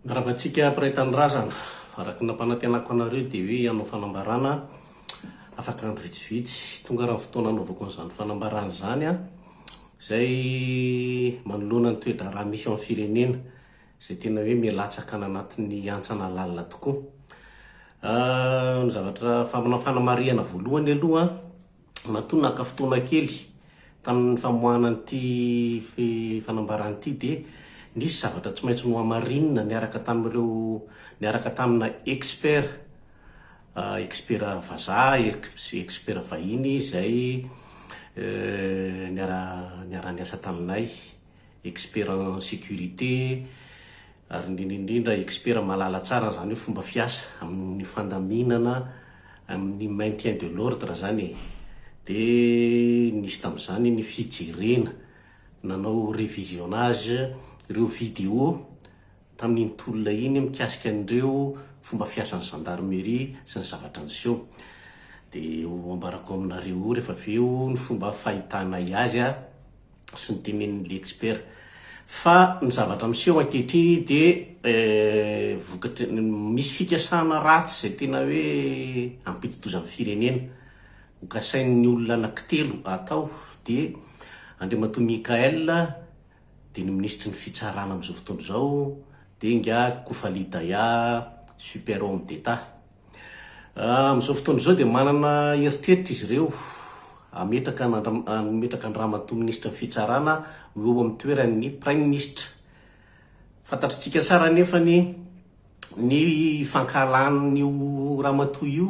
Mirava antsika mpiray tanindrazana. Araka ny nampanantenako anareo dia hoe hanao fanambarana afaka andro vitsivitsy. Tonga ary ny fotoana hanaovako an'izany fanambarana izany izay manoloana ny toe-draharaha misy eo amin'ny firenena izay tena hoe milatsaka any anatin'ny hantsana lalina tokoa. Ny zavatra, ny fanamarihana voalohany aloha an, Matoa naka fotoana kely tamin'ny famoahana an'ity fanambarana ity dia nisy zavatra tsy maintsy nohamarinina niaraka tamin'ireo niaraka tamina expert, expert vazaha, expert vahiny izay niara-niasa taminay. expert en sécurité, ary indrindra indrindra expert mahalala tsara an'izany hoe fomba fiasa amin'ny fandaminana amin'ny maintien de l'ordre izany e! Dia nisy tamin'izany ny fijerena, nanao revisionnage ireo vidéo tamin'iny tolona iny mikasika an'ireo fomba fiasan'ny gendarmerie sy ny zavatra niseho. Dia ho ambarako aminareo eo rehefa avy eo ny fomba fahitanay azy a! sy ny tenenin'ny Liexpert fa ny zavatra miseho ankehitriny dia vokatry ny misy fikasana ratsy izay tena hoe hampidi-doza ny firenena. Ho kasain'ny olona anankitelo atao dia Andriamatoa Michaël dia ny minisitry ny fitsarana amin'izao fotoana izao dia ingahy Kofali Daya, super homme d'Etat. Amin'izao fotoana izao dia manana eritreritra izy ireo hametraka an'Andriamatoa Andriamatoa Minisitry ny Fitsarana ho eo amin'ny toeran'ny Praiminisitra. Fantatritsika tsara anefa ny ny fankahalan'io Ramatoa io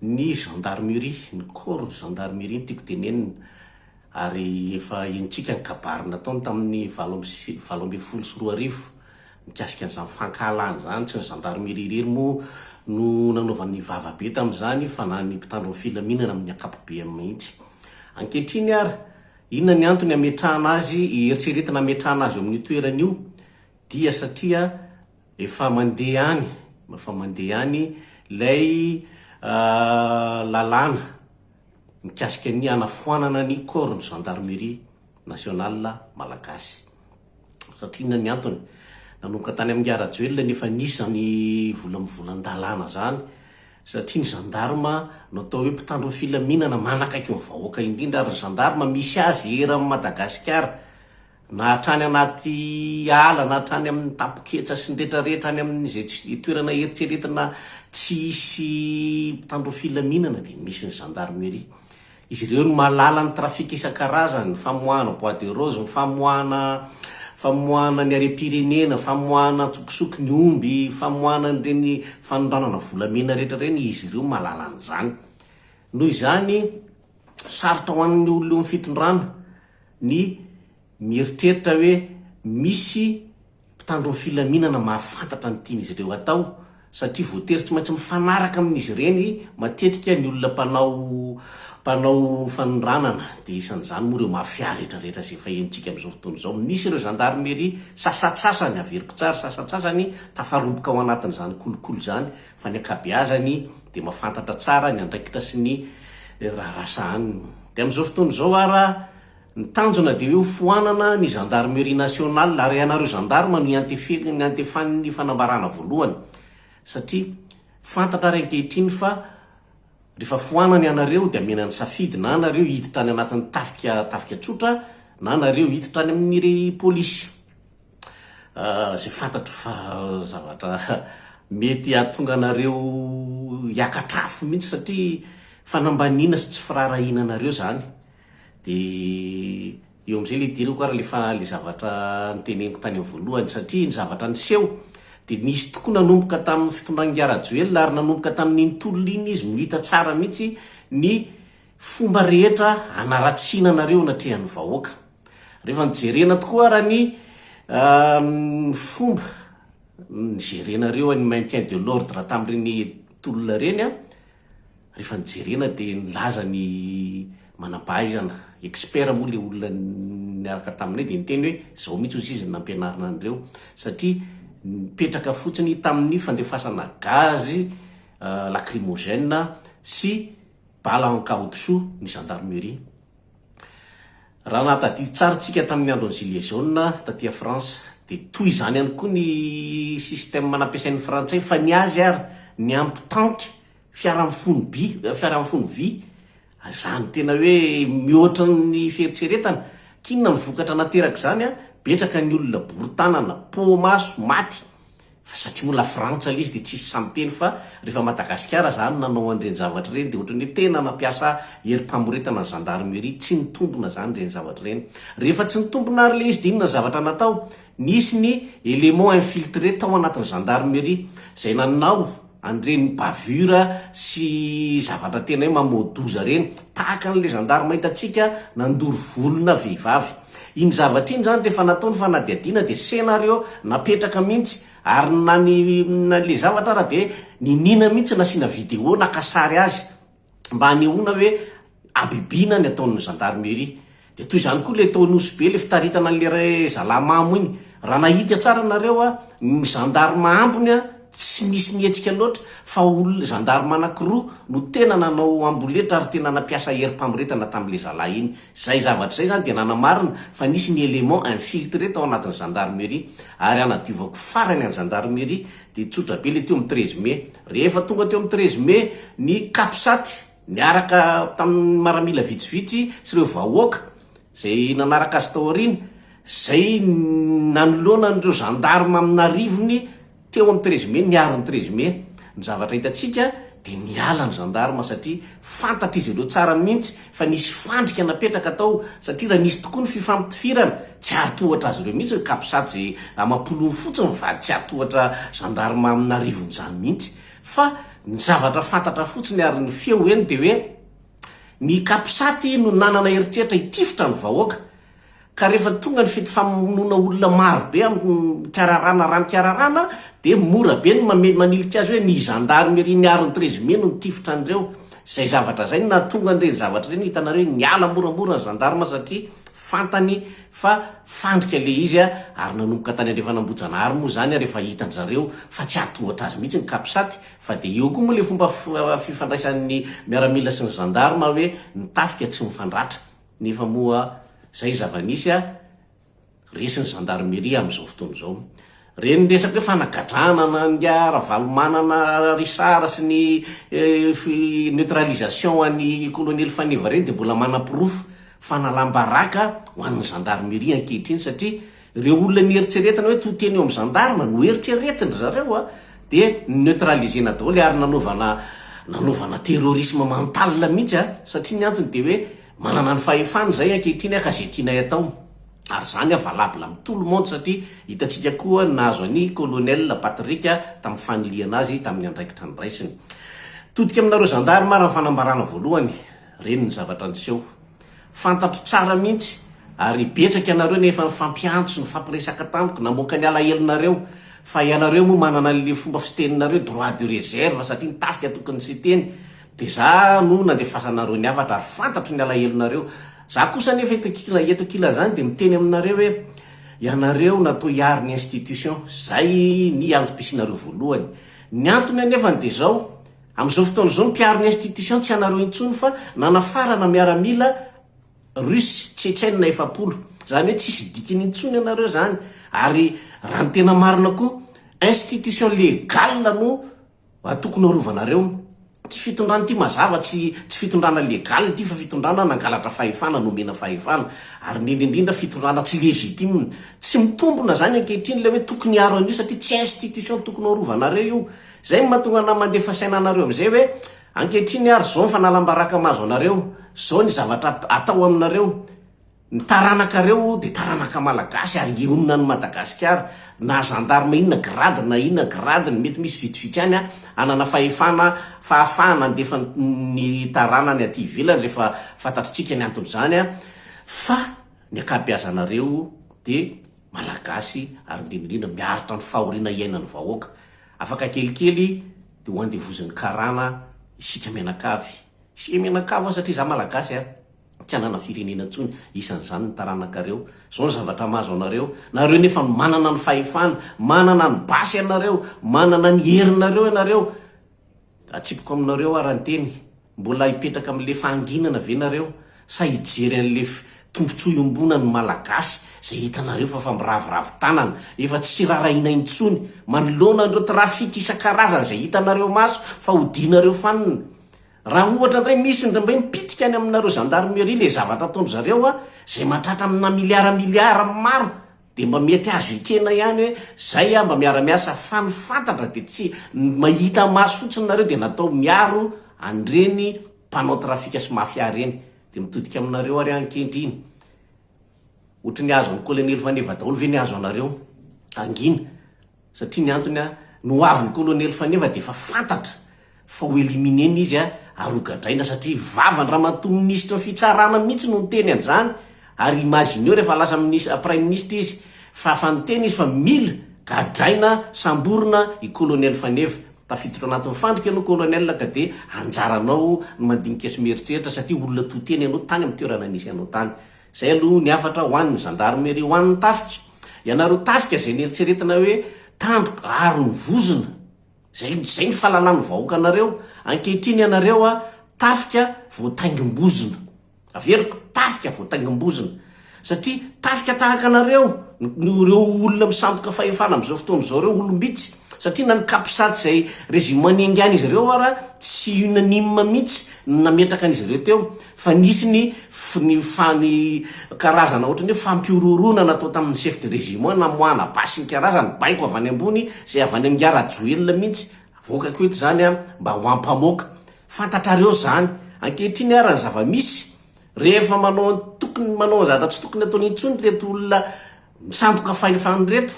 ny Gendarmerie, ny Corps de Gendarmerie no tiako tenenina. Ary efa henontsika ny kabary nataony tamin'ny valo amby sy valo ambin'ny folo sy roa arivo mikasika an'izany fankahalana izany. Tsy ny zandarimeria irery moa no nanaovany vava be tamin'izany fa na ny mpitandro ny filaminana amin'ny ankapobeany mihitsy. Ankehitriny ary, inona ny antony hametrahana azy, eritreretina hametrahana azy eo amin'io toerana io? Dia satria efa mandeha any, efa mandeha any ilay lalàna. mikasika ny hanafoanana ny corps-n'ny Gendarmerie Nationale Malagasy. Satria inona ny antony? Nanomboka tany amin'i Ingahy Rajoelina ny efa nisy izany vola mivolan-dalàna izany, satria ny gendarme no atao hoe mpitandro ny filaminana, manakaiky ny vahoaka indrindra, ary ny gendarme misy azy eran'i Madagasikara, na hatrany anaty ala na hatrany amin' ny tapoketsa sy ny retraretra any amin' izay tsy dia toerana eritreretina tsy hisy mpitandro filaminana dia misy ny zandarmeria. Izy ireo no mahalala ny trafika isan-karazany, ny famoahana bois de rose, ny famoahana famoahana ny harem-pirenena, famoahana an-tsokosoko ny omby, famoahana an'ireny fanondranana volamena rehetra ireny, izy ireo mahalala an'izany. Noho izany, sarotra ho an'ny olona eo amin'ny fitondrana ny mieritreritra hoe misy mpitandro ny filaminana mahafantatra ny tian'izy ireo hatao, satria voatery tsy maintsy mifanaraka amin'izy ireny matetika ny olona mpanao mpanao fanondranana, dia isan'izany moa ireo mafia rehetrarehetra izay efa henontsika amin'izao fotoana izao. Misy ireo zandarimeria sasantsasany, averiko tsara, sasantsasany tafaroboka ao anatin'izany kolikoly izany, fa ny ankabeazany dia mahafantatra tsara ny andraikitra sy ny raharaha sahaniny. Dia amin'izao fotoana izao ara, ny tanjona dia hoe ho foanana ny gendarmerie nationale ary ianareo gendarmes no iantefe, iantefan'ny fanambarana voalohany satria fantatra ary ankehitriny fa rehefa foanana ianareo dia amena ny safidy na nareo hiditra any anatin'ny tafika, tafika tsotra na nareo hiditra any amin'ny polisy. izay fantatro fa zavatra mety hahatonga anareo hiakatra afo mihitsy satria fanambaniana sy tsy firaharahiana anareo izany. Dia eo amin'izay ilay idirako ary ilay fa, ilay zavatra noteneniko tany amin'ny voalohany satria ny zavatra niseho dia nisy tokoa nanomboka tamin'ny fitondran'ingahy Rajoelina ary nanomboka tamin'iny tolona iny izy no hita tsara mihitsy ny fomba rehetra hanaratsiana anareo anatrehan'ny vahoaka. Rehefa nijerena tokoa ara ny fomba nijerenareo an'ny maintien de l'ordre tamin'ireny tolona ireny an, rehefa nijerena dia nilaza ny manam-pahaizana, expert moa ilay olona niaraka taminay dia niteny hoe izao mihitsy hozy izy no nampianarina an'ireo satria nipetraka fotsiny tamin'ny fandefasana gaz lacrymogène sy Bala Ankaodisoa, ny Gendarmerie. Raha nahatadidy tsara tsika tamin'ny andron'ny gilets jaunes taty a France dia toy izany ihany koa ny système nampiasain'ny frantsay fa ny azy ary ny ampitanty fiara mifono by, fiara mifono vy izany tena hoe mihoatra ny fieritreretana. K'inona ny vokatra naterak'izany a, betsaka ny olona bory tanana, poa maso, maty. Fa satria ho lafrantsa le izy de tsisy sahy miteny fa refa Madagasikara zany nanao an'ireny zavatra ireny de ohatran'ny hoe tena nampiasa herim-pamoretana ny gendarmerie, tsy nitombina zany ireny zavatra ireny. Rehefa tsy nitombina ary le izy de inona ny zavatra natao? Nisy ny éléments infiltrés tao anatin'ny gendarmerie zay nanao. an'ireny bavure sy zavatra tena hoe mamoa-doza ireny, tahaka an'ilay zandarma hitantsika nandoro volona vehivavy. Iny zavatra iny izany rehefa natao ny fanadihadiana dia scénario napetraka mihitsy, ary na ny ilay zavatra ary dia niniana mihitsy nasiana vidéo naka sary azy, mba hanehoana hoe habibiana ny ataon'ny gendarmerie. Dia toy izany koa ilay tao Nosy Be, ilay fitaritana an'ilay ra- zalahy mamo iny. Raha nahita tsara nareo a, ny gendarme ambiny a, tsy nisy nihetsika loatra fa olona, gendarme anankiroa no tena nanao amboletra ary tena nampiasa herim-pamoretana tamin'ilay zalahy iny. Izay zavatra izay izany dia nanamarina fa nisy ny élément infiltré tao anatin'ny gendarmerie. Ary hanadiovako farany an'ny gendarmerie Dia tsotra be ilay teo amin'ny treize mai. Rehefa tonga teo amin'ny treize mai ny Capsat niaraka tamin'ny maramila vitsivitsy sy ireo vahoaka izay nanaraka azy tao aoriana, izay nanoloana an'ireo gendarmes amin'arivony teo amin'ny treize mai, niaro ny treize mai. Ny zavatra hitantsika dia niala ny gendarmes satria Fantatr'izy ireo tsara mihitsy fa nisy fandrika napetraka tao satria raha nisy tokoa ny fifampitifirana, tsy hahatohatra azy ireo mihitsy ny capsat izay amam-polony fotsiny ny vady tsy hahatohatra gendarme amina arivon'izany mihitsy fa ny zavatra fantatra fotsiny ary ny feo eny dia hoe ny capsat no nanana eritreritra hitifitra ny vahoaka Ka rehefa tonga ny fety famonoana olona maro be amin'ny kararana raha ny kararana dia mora be ny mamely manilika azy hoe ny zandarimeria miaro ny trezime no nitifitra an'ireo. Izay zavatra izay no nahatonga an'ireny zavatra ireny hitanareo hoe niala moramora ny zandarma satria fantany fa fandrika ilay izy ary nanomboka tany andrefan'Ambohijanahary moa izany ary efa hitan-dry zareo fa tsy hatohatra azy mihitsy ny Capsat fa dia eo koa moa ilay fomba fifandraisan'ny miaramila sy ny zandarma hoe ny tafika tsy mifandratra Nefa moa zay zava-nisy a, resy ny gendarmerie am zao fotoana zao. Reny resaka hoe fanagadrana na nga Ravalomanana Richard sy ny neutralisation an'i Colonely Faneva reny dia mbola manaporofo fanalam-baraka ho an'ny gendarmerie ankehitriny satria Ireo olona nieritreretana hoe to teny eo amin'ny gendarme no eritreretin-dry zareo dia neutraliser-na daholo ary nanaovana nanaovana terrorisme mental mihitsy a! satria ny antony dia hoe manana ny fahefana izay ankehitriny ka izay tianay atao ary izany valable amin'ny tout le monde satria hitantsika koa ny nahazo an'i colonel Patrick tamin'ny fanilihana azy tamin'ny andraikitra niraisiny. Todika aminareo gendarme ary ny fanambarana voalohany. Reny ny zavatra niseho. Fantatro tsara mihitsy ary betsaka ianareo no efa nifampiantso, nifampiresaka tamiko, namoaka ny alahelonareo fa ianareo moa manana an'le fomba fiteninareo droit de reserve satria ny tafika tokony tsy hiteny dia za no nandefasanareo ny hafatra ary fantatro ny alahelonareo. Za kosa anefa eto ankila eto ankilazany dia miteny aminareo hoe ianareo natao hiaro ny institution. Zay ny antom-pisianareo voalohany. Ny antony anefany dia zao, Amin'izao fotoana izao, ny mpiaro ny institution tsy anareo intsony fa nanafarana miaramila Russe Tchetchène efapolo. Izany hoe tsisy dikiny intsony ianareo izany ary raha ny tena marina koa institution legale no tokony arovanareo. Ity fitondrana ity mazava tsy tsy fitondrana legale ity fa fitondrana nangalatra fahefana, nomena fahefana ary indrindra indrindra fitondrana tsy légitime. Tsy mitombona izany ankehitriny ilay hoe tokony hiaro an'io satria tsy institution tokony ho arovanareo io. Izay no mahatonga anà mandefa saina anareo amin'izay hoe, ankehitriny ary izao ny fanalam-baraka mahazo anareo, izao ny zavatra atao aminareo, ny taranakareo dia taranaka malagasy ary hionona an'i Madagasikara, na zandarma inona grade na inona gradeny, mety misy vitsivitsy ihany hanana fahefana, fahafahana handefa ny taranany aty ivelany rehefa fantatritsika ny anton'izany fa ny ankabeazanareo dia Malagasy ary indrindra indrindra miaritra ny fahoriana iainan'ny vahoaka. Afaka kelikely dia ho andevozin'ny karana isika mianakavy. Isika mianakavy ho'a satria izaho Malagasy a! tsy hanana firenena intsony, isan'izany ny taranakareo. Izao ny zavatra mahazo anareo. Nareo nefa no manana ny fahefana, manana ny basy ianareo, manana ny herinareo ianareo. Atsipiko aminareo ara-nteny. Mbola hipetraka amin'le fahanginana ve nareo sa hijery an'le tombotsoa iombonan'ny malagasy zay hitanareo fa fa miraviravy tanana efa tsy rarahiana intsony manoloana an'ireo trafic isan-karazany zay hitanareo maso fa odianareo fanina raha ohatra ndray misy ndray mipitika any aminareo gendarmerie le zavatra ataondry zareo a zay mahatratra amina milliard milliard maro Dia mba mety azo ekena ihany hoe zay aho mba miara miasa fa ny fantatra dia tsy ny mahita maso fotsiny nareo dia natao miaro an'ireny mpanao trafika sy mafia ireny dia mitodika aminareo ary aho ankehitriny ohatry ny azo an'i kolonely faneva daholo ve ny azo anareo hangina Satria ny antony an, ny ho avin'ny kolonely Faneva dia efa fantatra fa ho éliminer-na izy an, ary ho gadraina satria vavan'i ramatoa minisitry ny fitsarana mihitsy no niteny an'izany, ary imagineo rehefa lasa minis, praiminisitra izy fa efa niteny izy fa mila gadraina, samborina i kolonely Faneva. Tafiditra ao anatin'ny fandrika ianao kolonely ka dia anjaranao ny mandinika sy mieritreritra satria olona to-tena ianao tany amin'ny toerana nisy anao tany. Izay aloha ny hafatra ho an'ny zandarmeria ho an'ny tafika. Ianareo tafika izay nieritreretina hoe tandroka ary ny vozona. Izay izay ny fahalalan'ny vahoaka anareo. Ankehitriny ianareo a tafika voataingim-bozona. Averiko, tafika voataingim-bozona. Satria tafika tahaka anareo no ireo olona misandoka fahefana amin'izao fotoana izao ireo olom-bitsy. Satria na ny capsat izay régiment niaingan'izy ireo ara tsy unanime mihitsy ny nametraka an'izy ireo teo. Fa nisy ny ny fa ny karazana ohatran'ny hoe fampihorohoroana natao tamin'ny chef de régiment namoahana basy ny karazany, baiko avy any ambony izay avy any amin'i Nga Rajoelina mihitsy, avoakako eto izany an, mba ho ampamoaka. Fantatrareo izany. Ankehitriny ara ny zava-misy, rehefa manao ny tokony manao ny zavatra tsy tokony ataony intsony ireto olona misandoka fahefana ireto,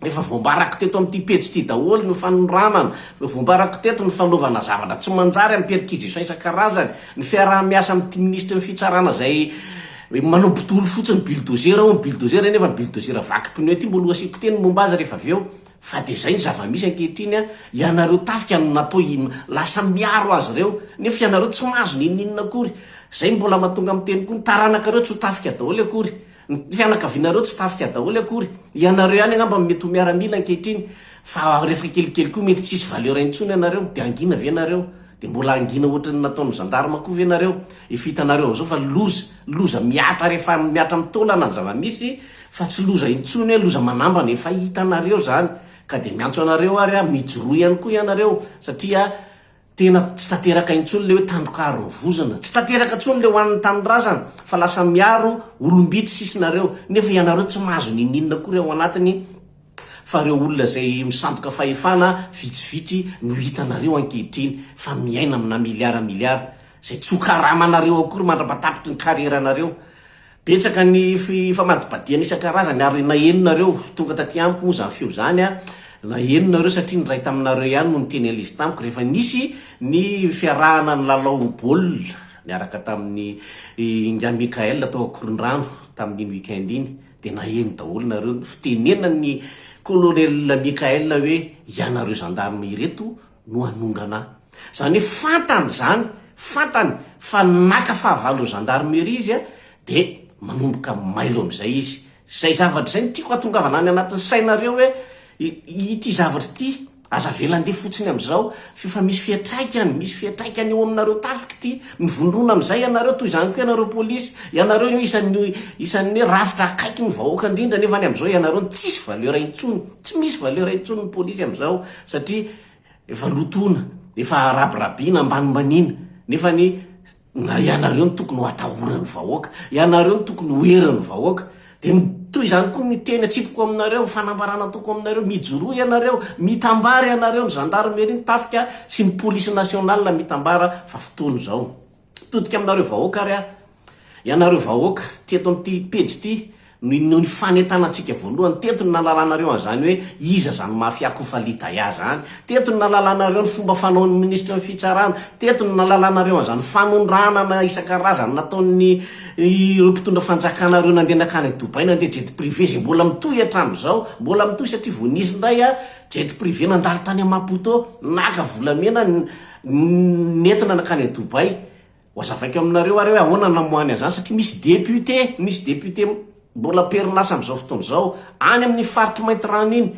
Efa voambarako teto amin'ity pejy ity daholo ny fanondranana, efa voambarako teto ny fanaovana zavatra tsy manjary amin'ny perquisition isan-karazany, ny fiaraha-miasa amin'ity minisitry ny fitsarana izay manao bodolo fotsiny, bulldozer hono, bulldozer nefa bulldozer vaky pneu ity mbola ho asiako teny ny momba azy rehefa avy eo. Fa dia izay ny zava-misy ankehitriny an, ianareo tafika no natao hi, lasa miaro azy ireo, nefa ianareo tsy mahazo n'inon'inona akory. Izay no mbola mahatonga miteny koa ny taranakareo tsy ho tafika daholo akory. Ny fianakavianareo tsy tafika daholo akory. Ianareo ihany angamba no mety ho miaramila ankehitriny fa rehefa kelikely koa mety tsy hisy valeur intsony ianareo. Dia hangina ve ianareo? Dia mbola hangina ohatran'ny nataon'ny gendarme koa ve ianareo? Efa hitanareo amin'izao fa loza, loza mihatra rehefa mihatra amin'ny taolana ny zava-misy fa tsy loza intsony hoe loza manambana. Efa hitanareo izany ka dia miantso anareo ary aho mijoroa ihany koa ianareo satria Tena tsy tanteraka intsony le hoe tandrokaro ny vozona. Tsy tanteraka intsony le hoan'ny tanindrazana fa lasa miaro olom-bitsy sisa nareo. Nefa ianareo tsy mahazo ninininona akory ao anatiny fa reo olona zay misandoka fahefana vitsivitsy no hitanareo ankehitriny fa miaina amina milliard milliard zay tsy ho karamanareo akory mandrapatapitry ny carrière nareo. Betsaka ny famadibadihana isan-karazany ary naheno nareo tonga taty amiko moa zany feo zany a, naheno nareo satria ny ray taminareo ihany no niteny anl'izy tamiko rehefa nisy ny fiarahana nilalao baolina niaraka tamin'ny Ingahy Mickaël tao Ankorondrano tamin'iny week-end iny dia naheno daholo nareo ny fitenenan'ny Colonel Mickaël hoe ianareo gendarmes ireto no hanongana ahy. Izany hoe fantany izany, fantany fa naka fahavalon'ny gendarmerie izy dia manomboka mailo amin'izay izy. Izay zavatra izay no tiako hatongavana any anatin'ny sainareo hoe ity zavatra ity aza avela handeha fotsiny amin'izao f'efa misy fiantraikany, misy fiantraikany eo aminareo tafika ity. Mivondrona amin'izay ianareo, toy izany koa ianareo polisy, ianareo no isan'ny isan'ny hoe rafitra akaiky ny vahoaka indrindra nefa ny amin'izao ianareo no tsisy valeur intsony, tsy misy valeur intsony ny polisy amin'izao. satria efa lotoina, efa rabirabiana, ambanimbaniana, nefa ny na ianareo no tokony ho atahoran'ny vahoaka, ianareo no tokony ho herin'ny vahoaka, dia ny toy izany koa ny teny atsipiko aminareo, ny fanambarana ataoko aminareo, mijoroa ianareo, mitambara ianareo, ny zandarmeria, ny tafika sy ny polisy nationale mitambara fa fotoana izao. Todika aminareo vahoaka ary aho. Ianareo vahoaka, teto amin'ity pejy ity no inoan'ny fanentanantsika voalohany. Teto no nahalalanareo an'izany hoe iza izany mafia Kofali Daya izany. Teto no nahalalanareo ny fomba fanaon'ny minisitry ny fitsarana. Teto no nahalalanareo an'izany fanondranana isan-karazany nataon'ny ireo mpitondra fanjakana ireo nandeha nankany Dubai nandeha jet privé izay mbola mitohy hatramin'izao. Mbola mitohy satria vao nisy indray jet privé nandalo tany Maputo naka volamena nentina nankany à Dubaï, hoazavaiko aminareo ary hoe ahoana namoahany an'izany satria misy député, misy député mbola am-perinasa amin'izao fotoana izao any amin'ny faritry Maintirano iny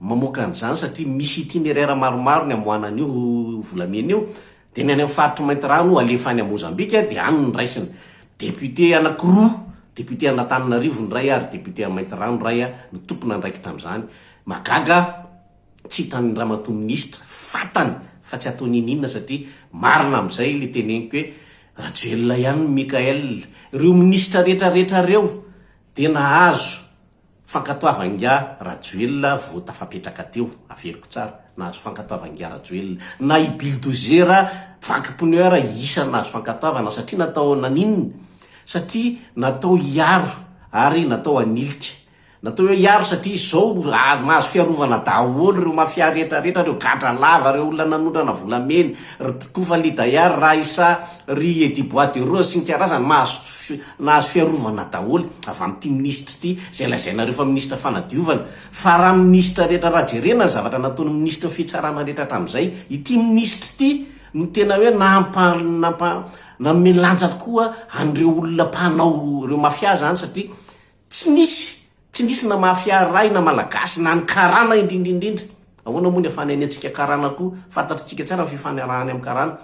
mamoaka an'izany satria misy itinéraire maromaro ny amoahana an'io volamena io dia ny any amin'ny faritry Maintirano alefa any à Mozambique dia any no raisina. Député anakiroa, député an'Antananarivo ny iray ary député à Maintirano iray no tompon'andraikitra amin'izany. Mahagaga aho. Tsy hitan'ny ramatoa minisitra, fantany fa tsy ataony ininona satria marina amin'izay ilay teneniko hoe Rajoelina ihany ny Mickaël. Ireo minisitra rehetra rehetra ireo dia nahazo fankatoavan-giahy Rajoelina vao tafapetraka teo, averiko tsara, nahazo fankatoavan-giahy Rajoelina. Na i Bildozer vaky pneu ara isan'ny nahazo fankatoavana satria natao naninona? Satria natao hiaro ary natao hanilika Natao hoe hiaro satria izao mahazo fiarovana daholo ireo mafia rehetra rehetra, ireo gadra lava, ireo olona nanondrana volamena, ry Kofa Lidaya, ry Raissa, ry Eddy Bois de Rose sy ny karazany mahazo nahazo fiarovana daholo avy amin'ity minisitra ity izay lazainareo fa minisitra fanadiovana fa raha minisitra rehetra raha jerena ny zavatra nataon'ny minisitry ny fitsarana rehetra hatramin'izay ity minisitra ity no tena hoe nampa nampa nanome lanja tokoa an'ireo olona mpanao ireo mafia izany satria Tsy nisy, tsy nisy na mafia ray na malagasy na ny karana indrindrindrindra. Ahoana moa ny afany any antsika karana koa, fantatritsika tsara ny fifanarahany amin'ny karana.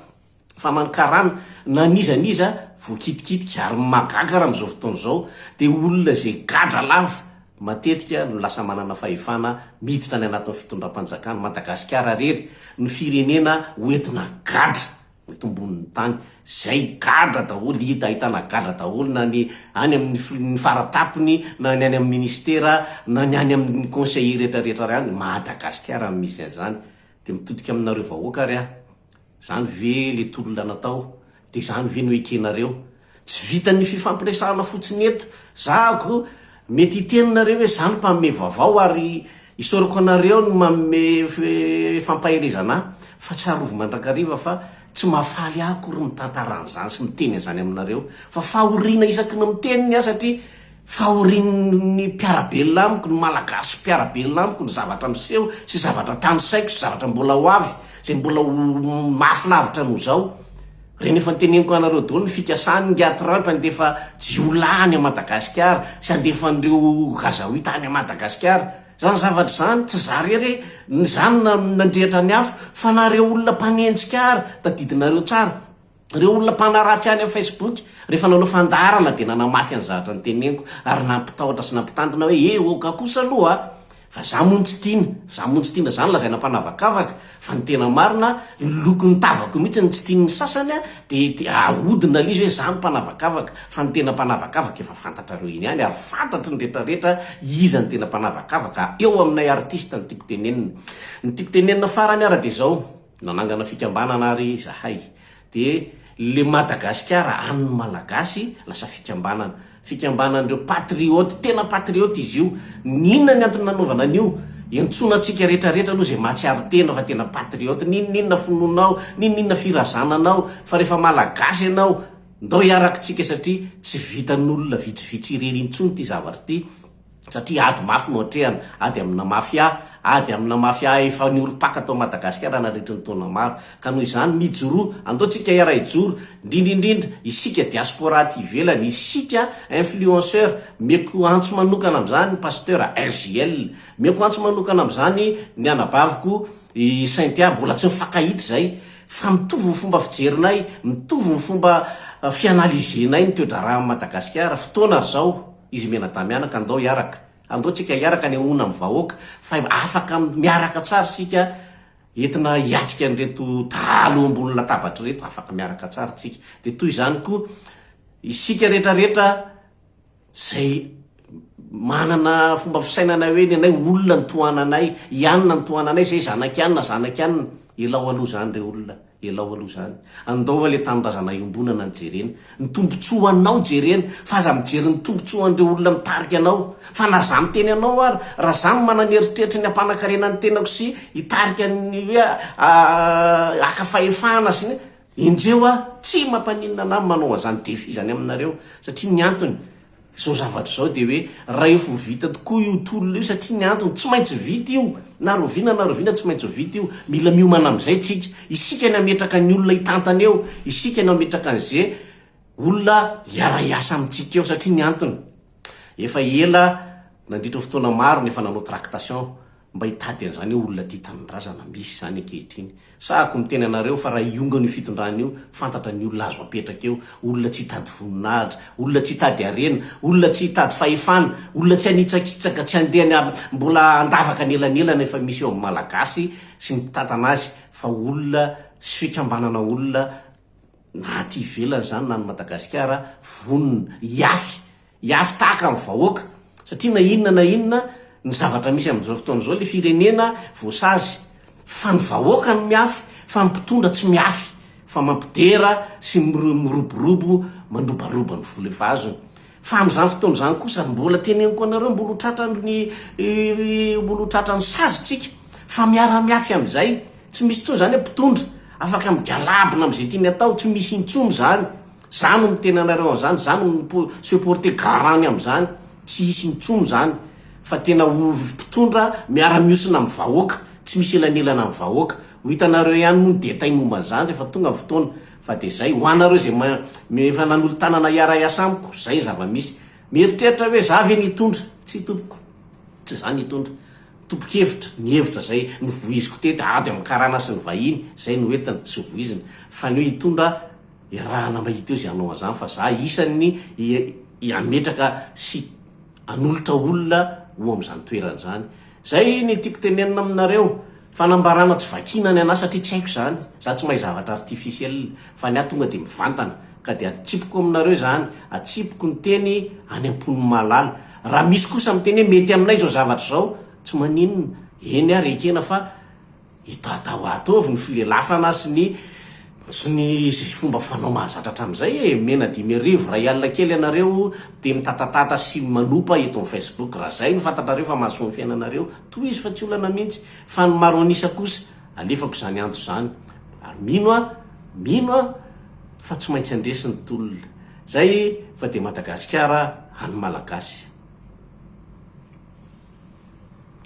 Fa na ny karana na n'iza n'iza voakitikitika ary ny mahagaga raha amin'izao fotoana izao dia olona izay gadra lava matetika no lasa manana fahefana miditra any anatin'ny fitondram-panjakana. Madagasikara rery no firenena hoentina gadra tombonin'ny tany zay gadra daholo hita ahitana gadra daholo na ny any amin'ny ny faratapony na ny any amin'ny ministera na ny any amin'ny conseiller rehetra rehetra ary any Madagascar no misy an'izany dia mitodika aminareo vahoaka ary aho zany ve le tolona natao dia zany ve no ekenareo Tsy vitan'ny fifampiresahana fotsiny eto. Zahako, mety hiteny nareo hoe za no mpanome vaovao ary isaorako anareo ny manome fampaherezana ahy fa tsarovy mandrakariva fa tsy mahafaly ahy akory mitantara an'izany sy miteny an'izany aminareo fa fahoriana isaky ny miteny ny ahy satria fahorian'ny mpiara-belona amiko, ny Malagasy mpiara-belona amiko ny zavatra miseho sy zavatra tanisaiko sy zavatra mbola ho avy izay mbola ho mafy lavitra noho izao. Reny efa noteneniko anareo daholo ny fikasan ny Atrump handefa jiolahy any Madagascar sy handefa an'ireo Gazaoita any Madagascar zany zavatra zany tsy za rery e ny za no nandrehitra ny afo fa na reo olona mpanenjika ary tadidinareo tsara reo olona mpanaratsy any am Facebook refa nanao fandaharana de nanamafy an'zahatra noteneniko ary nampitahotra sy nampitandrina hoe eh oka kosa aloha a! Fa za moa no tsy tiana, za moa no tsy tiana, zany lazaina mpanavakavaka, fa ny tena marina ny lokon'ny tavako mihitsy no tsy tian'ny sasany a, de de ahodina l'izy hoe za no mpanavakavaka, fa ny tena mpanavakavaka efa fantatrareo eny ihany ary fantatry ny rehetra rehetra iza no tena mpanavakavaka, eo aminay artiste ny tiako tenenina, ny tiako tenenina farany ary de zao. Nanangana fikambanana ary izahay. Dia le Madagasikara an'ny Malagasy lasa fikambanana. Fikambanan'ireo patriote, tena patriote izy io. N'inona ny antony nanaovana an'io? Iantsoana antsika rehetra rehetra aloha izay mahatsiaro tena fa tena patriote. N'inon'inona finoanao, n'inon'inona firazananao, fa rehefa Malagasy ianao, ndao hiarakitsika satria tsy vitan'olona vitsivitsy irery intsony ity zavatra ity. satria ady mafy no atrehana, ady amina mafia, ady amina mafia efa niorim-paka tao Madagasikara nandritry ny taona maro. Ka noho izany, mijoroa, andao tsika iaraha hijoro, indrindra indrindra isika diaspora aty ivelany, isika influenceur, meko antso manokana amin'izany Pasteur RJL, meko antso manokana amin'izany ny anabaviko i Cynthia, mbola tsy nifankahita izay, fa mitovy ny fomba fijerinay, mitovy ny fomba fianaliser-nay ny toe-draharahan'i Madagasikara, fotoana ry zao. Izy mianadamianaka andao hiaraka. Andao tsika hiaraka anehoana am vahoaka fa afaka miaraka tsara isika entina hiatrika an'ireto dahalo eo ambony latabatra ireto afaka miaraka tsara tsika dia toy izany koa isika rehetra rehetra zay manana fomba fisainana hoe ny anay olona ny tohananay ianona ny tohananay zay zanaky anona zanaky anona elao aloha zany re olona Elao aloha izany. Andao aloha ilay tanindrazana iombonana no jerena. Ny tombontsoanao jerena. Fa aza mijery ny tombontsoan'ireo olona mitarika anao. Fa na izaho miteny anao ary, raha izaho no manana eritreritry ny hampanakarena ny tenako sy hitarika ny hoe haka fahefana sy ny, enjeo aho. Tsy mampaninona an'ahy ny manao an'izany défi izany aminareo. Satria ny antony, Izao zavatra izao dia hoe rahefa ho vita tokoa io tolona io satria ny antony tsy maintsy vita io na rahoviana na rahoviana tsy maintsy ho vita io, mila miomana amin'izay isika, isika ny hametraka ny olona hitantana eo, isika no hametraka an'ze olona hiara hiasa amintsika eo satria ny antony efa ela nandritra fotoana maro no efa nanao tractation. Mba hitady an'izany eo olona tia tanindrazana, misy izany ankehitriny. Sahako miteny anareo fa raha hiongana io fitondrana io, fantatra ny olona azo apetraka eo, olona tsy hitady voninahitra, olona tsy hitady harena, olona tsy hitady fahefana, olona tsy hanitsakitsaka, tsy handeha any mbola handavaka anelanelana efa misy eo amin'ny Malagasy sy ny mpitantana azy fa olona sy fikambanana olona na aty ivelany izany na any Madagasikara vonona hiafy Hiafy tahaka ny vahoaka, satria na inona na inona ny zavatra misy amin'izao fotoana izao, ilay firenena voasazy, fa ny vahoaka no miafy, fa ny mpitondra tsy miafy, fa mampidera sy miroborobo mandrobaroba ny vola efa azony. Fa amin'izany fotoana izany kosa, mbola teneniko anareo, mbola ho tratran'ny mbola ho tratran'ny sazintsika, fa miara-miafy amin'izay, tsy misy intsony izany hoe mpitondra afaka migalabona amin'izay tiany atao, tsy misy intsony izany, Za no miteny anareo an'izany, za no mipo se porter garant-ny amin'izany, tsy hisy intsony izany fa tena ho mpitondra miara-mihosina amin'ny vahoaka, tsy misy elanelana amin'ny vahoaka. Ho hitanareo ihany moa ny détails momba an'izany rehefa tonga ny fotoana, fa dia izay. Ho anareo izay ma mi efa nanolo-tanana hiara-hiasa amiko, izay ny zava-misy. Mieritreritra hoe za ve no hitondra? Tsia tompoko, tsy za no hitondra. Topon-kevitra, nihevitra izay novoiziko teto, ady amin'ny karana sy ny vahiny, izay no entiny sy voiziny, fa ny hoe hitondra, Iarahana mba hita eo izay hanao an'izany fa za isan'ny hametraka sy hanolotra olona ho amin'izany toerana izany. Izay ny tiako tenenina aminareo. Fanambarana tsy vakiana ny anà satria tsy haiko izany. Za tsy mahay zavatra artificiel fa ny ahy tonga dia mivantana ka dia atsipiko aminareo izany, atsipiko ny teny any am-pon'ny mahalala. Raha misy kosa miteny hoe mety aminay izao zavatra izao, tsy maninona, eny ary ekena fa Itatao ato avy ny filelafana sy ny sy ny sy fomba fanao mahazatra hatramin'izay e! Omena dimy arivo, iray alina kely ianareo dia mitatatata sy manopa eto amin'ny Facebook. Raha izay no fantatrareo fa mahasoa ny fiainanareo, tohizo fa tsy olana mihitsy. Fa ny maro an'isa kosa, alefako izany antso izany. Ary mino aho, mino aho fa tsy maintsy handresy ny tolona. Izay fa dia Madagasikara an'ny Malagasy.